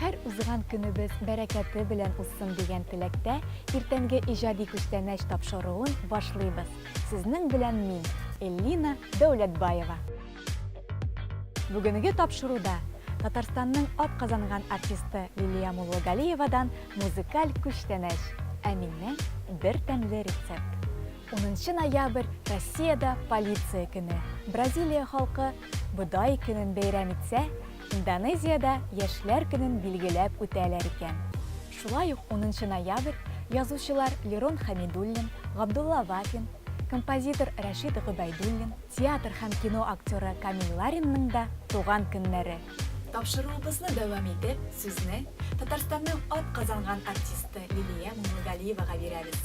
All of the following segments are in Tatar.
Һәр узган көнебез бәрәкәте белән узсын дигән теләктә, иртәнге иҗади күчтәнәч тапшыруын башлыйбыз. Сезнең белән мин, Эллина Дәүләтбаева. Бүгенге тапшыруда Татарстанның атказанган артисты Лилия Муллогалиевадан музыкаль күчтәнәч Ә миннән бер тәмле рецепт. Унынчы ноябрь, Россиядә Полиция көне. Бразилия халкы Бодай көнен бәйрәм итсә, Индонезиядә Яшьләр көнен билгеләп үтәләр икән. Шулай ук унынчы ноябрь язучылар Лерон Хәмидуллин, Габдулла Вафин, композитор Рәшит Гобәйдуллин, театр һәм кино актеры Камил Ларинның да туган көннәре. Тапшыруыбызны дәвам итеп, сүзне Татарстанның атказанган артисты Лилия Муллагалиевага бирәбез.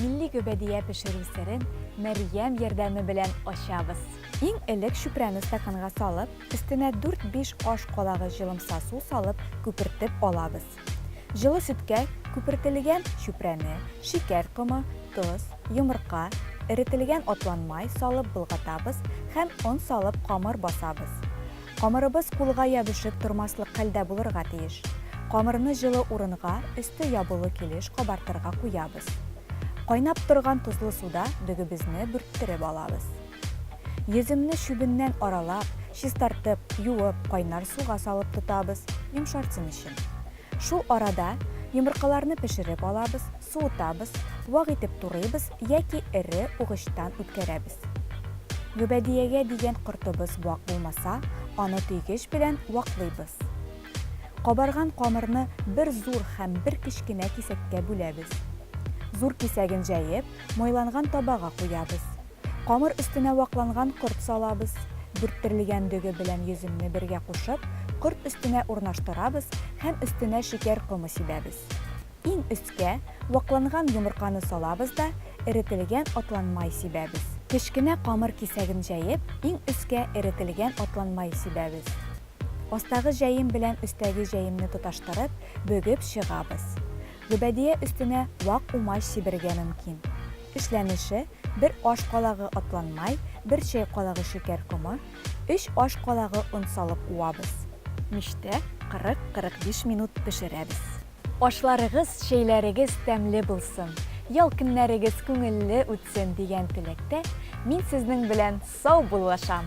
Милли гөбәдия пешерү серен Мәрьям ярдәме белән ачабыз. Иң элек чүпрәне стаканга салып, өстенә дүрт-биш аш калагы җылымса су салып күпертеп алабыз. Җылы сөткә күпертелгән чүпрәне, шикәр комы, тоз, йомырка, эретелгән атланмай салып болгатабыз һәм он салып камыр басабыз. Камырыбыз кулга ябешеп тормаслык хәлдә булырга тиеш. Камырны җылы урынга, өсте ябылу килеш кабартырга куябыз. Кайнап торган тозлы суда дөгебезне бүрттереп алабыз. Йөземне чүбеннән аралап, чистартып, юып, кайнар суга салып тотабыз, йомшарсын өчен. Шул арада йомыркаларны пешереп алабыз, суытабыз, вак итеп турыйбыз яки эре угычтан үткәрәбез. Гөбәдиягә дигән кортыбыз вак булмаса, аны төйгеч белән ваклыйбыз. Кабарган камырны бер зур һәм бер кечкенә кисәккә бүләбез. Зур кисәген җәеп, майланган табага куябыз. Камыр өстенә вакланган корт салабыз. Бөрттерлгән дөге белән йөземне бергә кушып, корт өстенә урнаштырабыз һәм өстенә шикәр комы сибәбез. Иң өскә, вакланган йомырканы салабыз да, эретелгән атлан май сибәбез. Кечкенә камыр кисәген җәеп, иң өскә эретелгән атлан май сибәбез. Астагы җәем белән өстәге җәемне тоташтырып, бөгеп чыгабыз. Гөбәдия өстенә вак умач сибәргә мөмкин. Эшләнеше, бер аш калагы атлан май, бер чәй калагы шикәр комы, өч аш калагы он салып уабыз. Мичтә 40-45 минут пешерәбез. Ашларыгыз, чәйләрегез тәмле булсын, ял көннәрегез күңелле үтсен дигән теләктә, мин сезнең белән сау буллашам!